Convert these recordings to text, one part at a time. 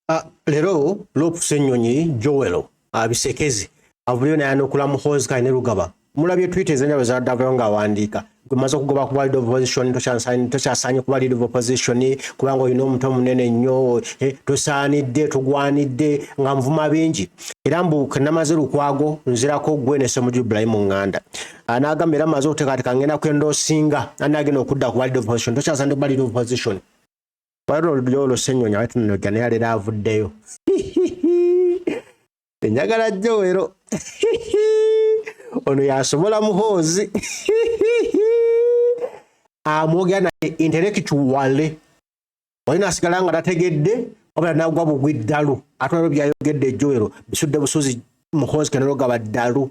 Ah, lero lopusa ennyonyi joel abisekezi ah, avuliyo naye anokula muhoozi kale ne lugaba mulabye twita ezenjalo zadavayo ng'awandiika gwemaze okugoba kuba lead of opposition tokyasaanye kuba lead of opposition kubanga olina omuto munene nnyo eh, tosaanidde togwanidde nga nvuma bingi era mbu kenamaze lukwago nzirako gwe ne semuju ibrahimu nganda ah, n'agamba era maze okuteekateeka ngenda kwenda osinga anagenda okudda kuba lead of opposition tokyasaanidde kuba lead of opposition wali olulyo olusenyonya wali tunonogya naye alera avuddeyo enjagala jowero ono yasobola muhoozi amwogera naye intellectuale wali nasigala nga tategedde wabula nagwa bugwi ddalu ate olwo byayogedde jowero bisudde busuzi muhoozi kenaloga baddalu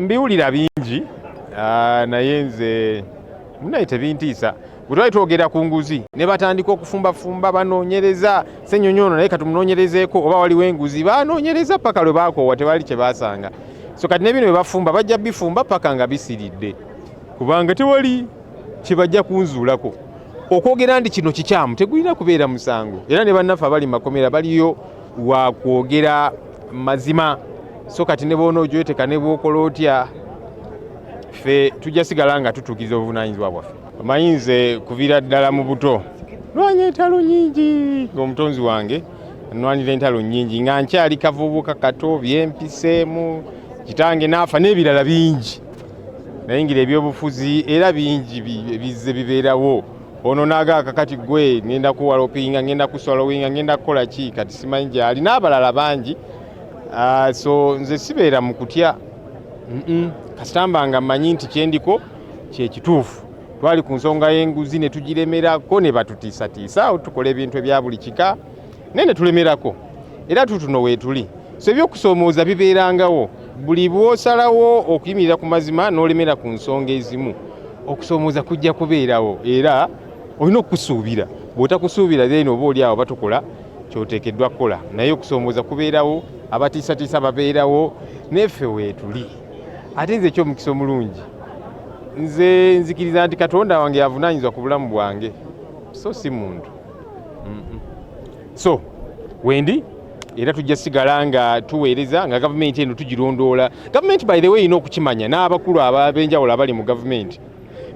mbiwulira bingi ah, naye nze munaye tebintiisa bwetwali twogera ku nguzi ne batandika okufumbafumba banoonyereza senyonyi ono naye katumunoonyerezeeko oba waliwo enguzi banoonyereza paka lwe bakoowa tewali kye basanga so kati nebino bye bafumba bajja bifumba paka nga bisiridde kubanga tewali kye bajja kunzuulako okwogera nti kino kikyamu tegulina kubeera musango era ne bannaffe abali makomera baliyo wakwogera mazima so kati ne boona ojweteka ne bwokola otya ffe tujja sigala nga tutuukiza obuvunanyizibwa bwaffe omanyi nze kuvira ddala mu buto nwanya entalo nyingi ngaomutonzi wange nwanira entalo nyingi nga nkyali kavubuka kato byempiseemu kitange naafa n'ebirala bingi nayingira ebyobufuzi era bingi bizze bibeerawo ono nagaaka kati gwe ngenda kuwalopinga ngenda kuswalowinga ngenda kukola ki kati simanyi gyali n'abalala bangi ah, so nze sibeera mu kutya kasitamba nga mmanyi nti kyendiko kyekituufu twali ku nsonga y'enguzi ne tugiremerako ne batutiisatiisa awo tukola ebintu ebya buli kika naye ne tulemerako era tutuno weetuli so ebyokusoomooza bibeerangawo buli bw'osalawo okuyimirira ku mazima n'olemera ku nsonga ezimu okusoomooza kujja kubeerawo era olina okukusuubira bw'otakusuubira then oba oli awo batukola kyoteekeddwa kukola naye okusoomooza kubeerawo abatiisatiisa babeerawo neffe weetuli ate nze ekyomukisa omulungi nze nzikiriza nti katonda wange yavunaanyizibwa ku bulamu bwange so si muntu so wendi era tujja sigala nga tuweereza nga gavumenti eno tugirondoola gavumenti by the way erina okukimanya n'abakulu abenjawulo abali mu gavumenti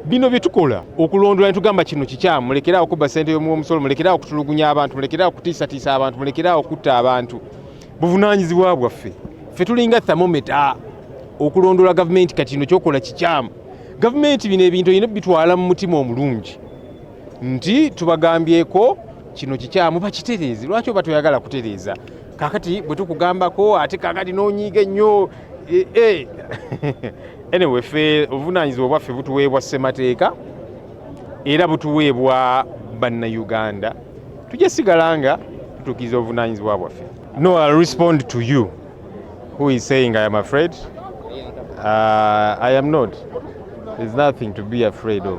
bino bye tukola okulondoola netugamba kino kikyamu mulekeraawo okubba sente y'omusolo mulekeraawo okutulugunya abantu mulekeraawo okutiisatiisa abantu mulekeraawo okutta abantu buvunaanyizibwa bwaffe ffe tulinga thamometa okulondoola gavumenti kati kino kyokola kikyamu gavumenti bino ebintu erina bitwala mu mutima omulungi nti tubagambyeko kino kikyamu bakitereeze lwaki oba toyagala kutereeza kakati bwe tukugambako ate kakati n'onyiiga ennyo eh, eh. anyway fe obuvunaanyizibwa bwaffe butuweebwa ssemateeka era butuweebwa bannayuganda tujja sigala nga tutuukiriza obuvunaanyizibwa bwaffe no I'll respond to you who is saying I am afraid uh, I am not there's nothing to be afraid of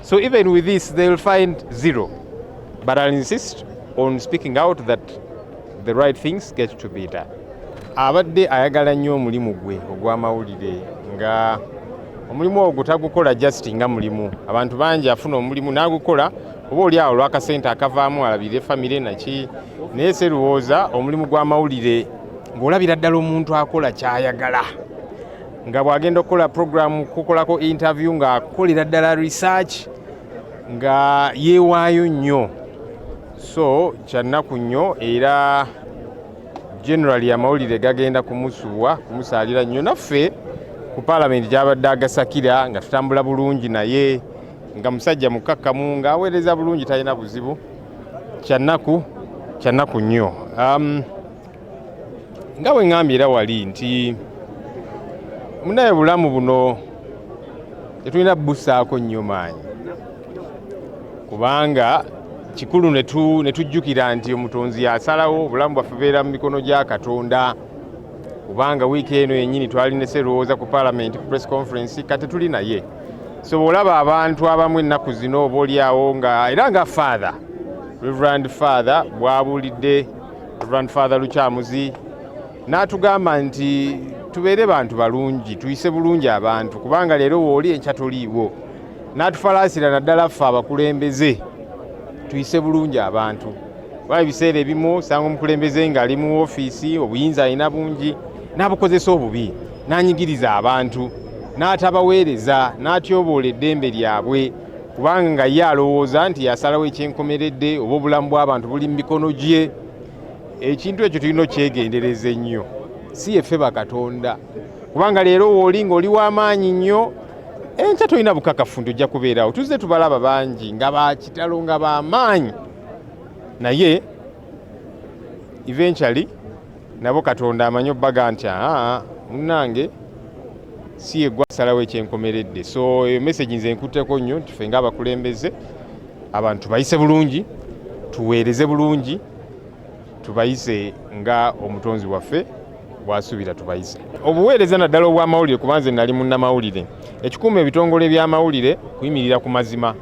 So even with this they will find zero. But I'll insist on speaking out that the right things get to be done. Abadde ayagala nnyo omulimu gwe ogw'amawulire nga omulimu ogwo tagukola just nga mulimu. Abantu bangi afuna omulimu n'agukola oba oli awo olw'akasente akavaamu alabire famire naki naye serowooza omulimu gw'amawulire ng'olabira ddala omuntu akola ky'ayagala. nga bw'agenda okukola puroguramu kukolako interview ng'akolera ddala research nga yeewaayo nnyo so kyannaku nnyo era generali amawulire gagenda kumusubwa kumusaalira nnyo naffe ku paalamenti gyabadde agasakira nga tutambula bulungi naye nga musajja mukkakkamu ng'aweereza bulungi talina buzibu kyannaku kyannaku nnyo um, nga bwe ŋŋambye era wali nti munaye bulamu buno tetulina busaako nnyo maanyi kubanga kikulu ne tujjukira nti omutonzi yasalawo obulamu bwaffe beera mu mikono gya katonda kubanga wiiki eno yennyini twali ne serowooza ku palamenti ku press conference kati tuli naye so bw'olaba abantu abamu ennaku zino oba olyawo nga era nga father reverand father bwabulidde Reverend Father Lukyamuzi n'atugamba nti tubeere bantu balungi tuyise bulungi abantu kubanga leero wooli enkya toliiwo n'atufalaasira naddala ffe abakulembeze tuyise bulungi abantu kuba ebiseera ebimu osanga omukulembeze ng'ali mu ofiisi obuyinza alina bungi n'abukozesa obubi n'anyigiriza abantu n'atabaweereza n'atyoboola eddembe lyabwe kubanga nga ye alowooza nti yasalawo ekyenkomeredde oba obulamu bw'abantu buli mu mikono gye ekintu ekyo tulina okyegendereza ennyo si yeffe bakatonda kubanga leero wooli ng'oli w'amaanyi nnyo enkya tolina bukakafu nti ojja kubeerawo tuzze tubalaba bangi nga bakitalo nga bamaanyi naye eventually nabo katonda amanyi obbaga nti aa munange si yegwa asalawo ekyenkomeredde so eyo message nze nkutteko nnyo nti ffe ngaabakulembeze abantu bayise bulungi tuweereze bulungi tubayise nga omutonzi waffe bwasuubira tubayise obuweereza naddala obw'amawulire kuba nze nali munnamawulire ekikuuma ebitongole by'amawulire kuyimirira ku mazima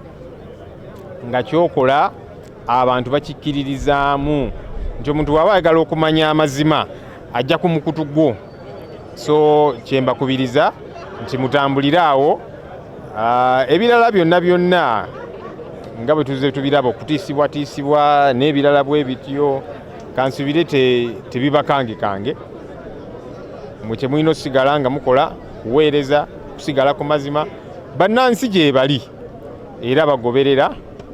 nga kyokola abantu bakikkiririzaamu nti omuntu waba ayagala okumanya amazima ajja ku mukutu gwo so kyembakubiriza nti mutambulire awo ah, ebirala byonna byonna nga bwe tuze tubiraba okutiisibwatiisibwa n'ebirala bwe bityo kansubire tebibakange kange mwe kyemulina okusigala nga mukola kuweereza kusigala ku mazima bannansi gyebali era bagoberera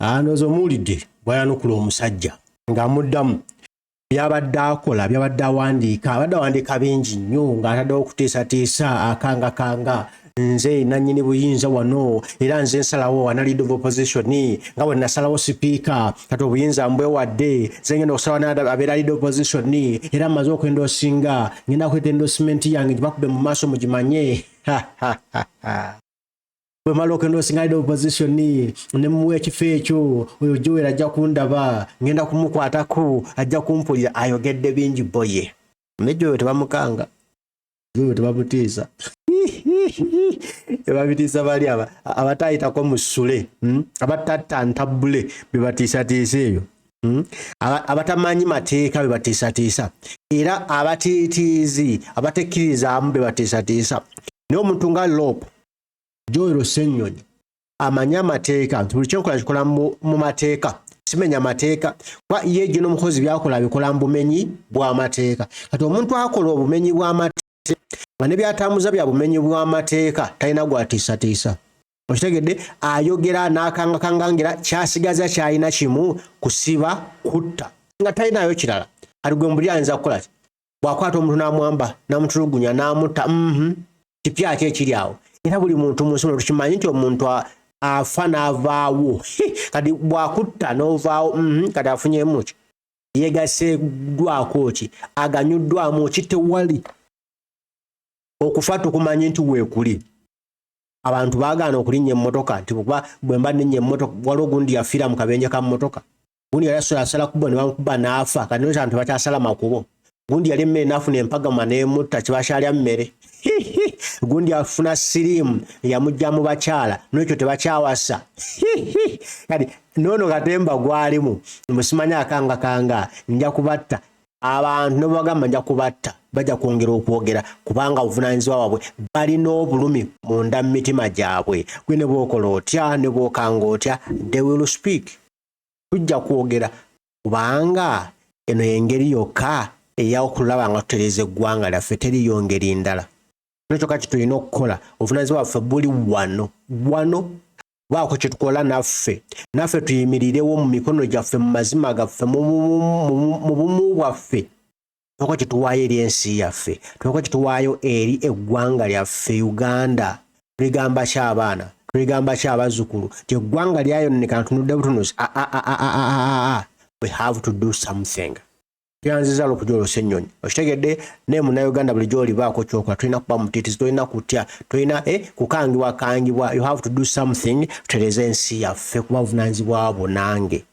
anoza omuwulidde bwayanukula omusajja ng'amuddamu byabadde akola byabadde awandiika abadde awandiika bingi nnyo ng'ataddewo okuteesateesa akangakanga nze nannyini buyinza wano era nze nsalawo analid of opposition nga bwe nasalawo sipiika kati obuyinza mbwewadde nze ngenda okusalawo abeera lid opposition era mmaze okwenda osinga ngenda kweta endosimenti yange gibakube mu maaso mugimanye bwe mala okenda osingalira opposition ne muwa ekifo ekyo oyo joel ajja kundaba ngenda kumukwatako ajja kumpulira ayogedde bingi boye ne joel tebamukanga joel tebamutiisa ebabitiisa bali aba abatayitako mu sule hmm? abatatta ntabule bebatiisatiisa eyo Hmm? abatamanyi mateeka bebatiisatiisa era abatiitiizi abatekkirizaamu bebatiisatiisa naye omuntu nga lop joel senyonyi amanyi amateeka nti buli kyenkola kikola mu mateeka simenya mateeka kuba ye ejjo n'omukozi byakola abikola mu bumenyi bw'amateeka kati omuntu akola obumenyi bw'amateeka nga ne byatambuza bya bumenyi bw'amateeka talina gwatiisatiisa okitegedde ayogera n'akangakangangira kyasigaza kyalina kimu kusiba kutta nga talinayo kirala ali gwe mbuli ayinza kukola ki bwakwata omuntu namwamba namutulugunya namutta mhm. kipya ati ekiri awo era buli muntu munsi muno tukimanyi nti omuntu afa navaawo kati bwakutta novaawo mhm. kati afunyemuki yegaseddwako ki aganyuddwamu ki tewali okufa tukumanyi nti weekuli abantu baagaana okulinnya emmotoka nti kuba bwe mba nenya emmotoka waliwo gundi yafiira mu kabenje ka mmotoka gundi yali asobola asala kubo ne bamukuba n'afa kati noza nti bakyasala makubo gundi yali emmere n'afuna empagama n'emutta kibakyalya mmere gundi afuna siriimu yamujja mu bakyala n'ekyo tebakyawasa kati noono katemba gwalimu musimanya akanga kanga nja kubatta abantu nebagamba nja kubatta bajja kwongera okwogera kubanga obuvunanyizibwa wabwe balina obulumi munda mu mitima gyabwe gwe ne bwokola otya ne bwokanga otya they will speak tujja kwogera kubanga eno y'engeri yokka eya okulaba nga tutereeza eggwanga lyaffe teriyo ngeri ndala kino kyokka kitulina okukola obuvunanyizibwa bwaffe buli wano wano baako kyetukola naffe naffe tuyimirirewo mu mikono gyaffe mu mazima gaffe mu bumu bwaffe tulina kyetuwaayo eri ensi yaffe tulina kyetuwaayo eri eggwanga lyaffe uganda tuligamba ki abaana tuligamba ki abazzukulu ti eggwanga lyayononeka ntunudde butunuzi ah, ah, ah, we have to do something yanziza lokuja olose ennyonyi okitegedde naye munauganda bulijjo olibaako kyokola tolina kuba mutitizi tolina kutya tolina eh, kukangibwa kangibwa you have to do something tutereze ensi yaffe kuba buvunanyizibwa bwo nange